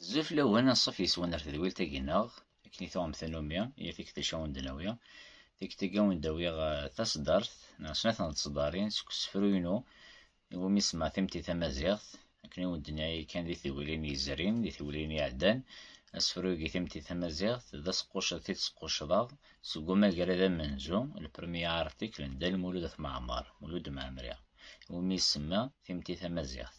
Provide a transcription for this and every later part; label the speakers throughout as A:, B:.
A: Bezzaf lawan aṣṣaf yeswan ar tedwilt-agi-nneɣ, akken i tuɣem tannumi, yir tikkelt acu awen d-nawiɣ. Tikkelt-agi awen d-awiɣ eh, taṣeddart, neɣ snat n tṣeddarin, seg usefru-inu iwumi semmaɣ Timetti Tamaziɣt, akken i wen d-nniɣ yakan di tewwilin yezrin, di tewwilin iɛeddan, asefru-agi Timetti Tamaziɣt, d aseqqucceḍ i t-squcceḍeɣ, seg umagrad amenzu, le premier article, n Dda Lmulud At Mɛemmer, Mulud Mɛemmri, iwumi i semmaɣ Timetti Tamaziɣt.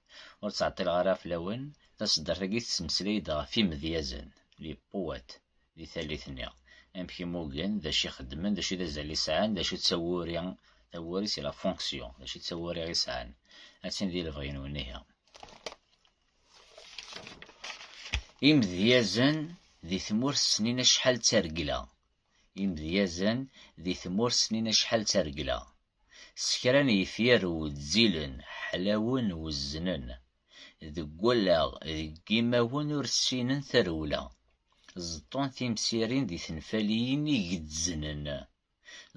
A: Ur ttɛeṭṭileɣ ara fell-awen, taseddart-agi tettmeslay-d ɣef yimedyazen, les poètes, di tallit-nni, amek i mmugen, d acu i xeddmen, d acu d azal i sɛan, d acu d tawuri, tawuri c'est la fonction, d acu d tawuri i sɛan. Attan di lebɣi-nwen ihi. Imedyazen di tmurt snin acḥal d targla. Imedyazen di tmurt snin acḥal d targla. s kra n yefyar wezzilen, ḥlawen, wezznen, deg wallaɣ, deg yimawen ur ssinen tarewla, ẓeṭṭun timsirin d tenfaliyin i gezznen,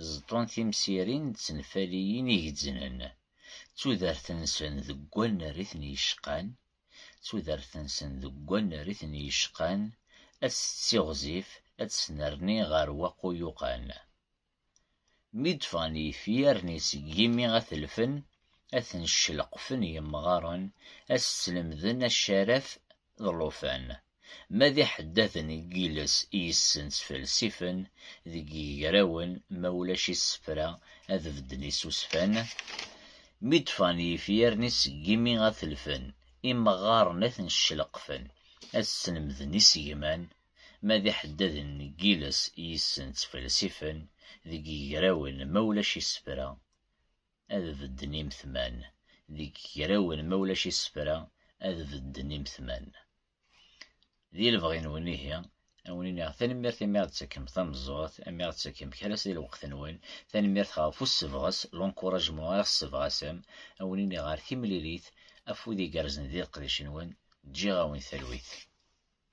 A: ẓeṭṭun timsirin d tenfaliyin i gezznen, d tudert-nsen deg wannar i ten-yecqan, d tudert-nsen deg wannar i ten-yecqan, ad tettiɣzif, ad tesnerni ɣer waquyuqan. Mi d-ffɣen yifyar-nni seg yimi ad t-lfen, ad ten-celqfen yemɣaren, ad s-slemden acaraf d llufan. Ma d iḥeddaden n yiles yes-sen ttfelsifen deg yigrawen, ma ulac isefra ad bedden isusfan. Mi d-ffɣen yifyar-nni seg yimi ad t-lfen, imeɣɣaren ad ten-celqfen, ad s-slemden isegman. Ma d iḥeddaden n yiles i yissen ttfelsifen deg yigrawen ma ulac isefra, ad bedden imetman, deg yigrawen ma ulac isefra, ad bedden imetman. Di lebɣi-nwen ihi, ad wen-iniɣ tanemmirt imi aɣ-d-tettakem tameẓẓuɣt, imi aɣ-d-tettakem kra si lweqt-nwen, tanemmirt ɣef ussebɣes, l'encouragement, ara ɣ-ssebɣasem, ad wen-iniɣ ɣer timlilit, afud igerrzen di leqdic-nwen, ǧǧiɣ-awen talwit.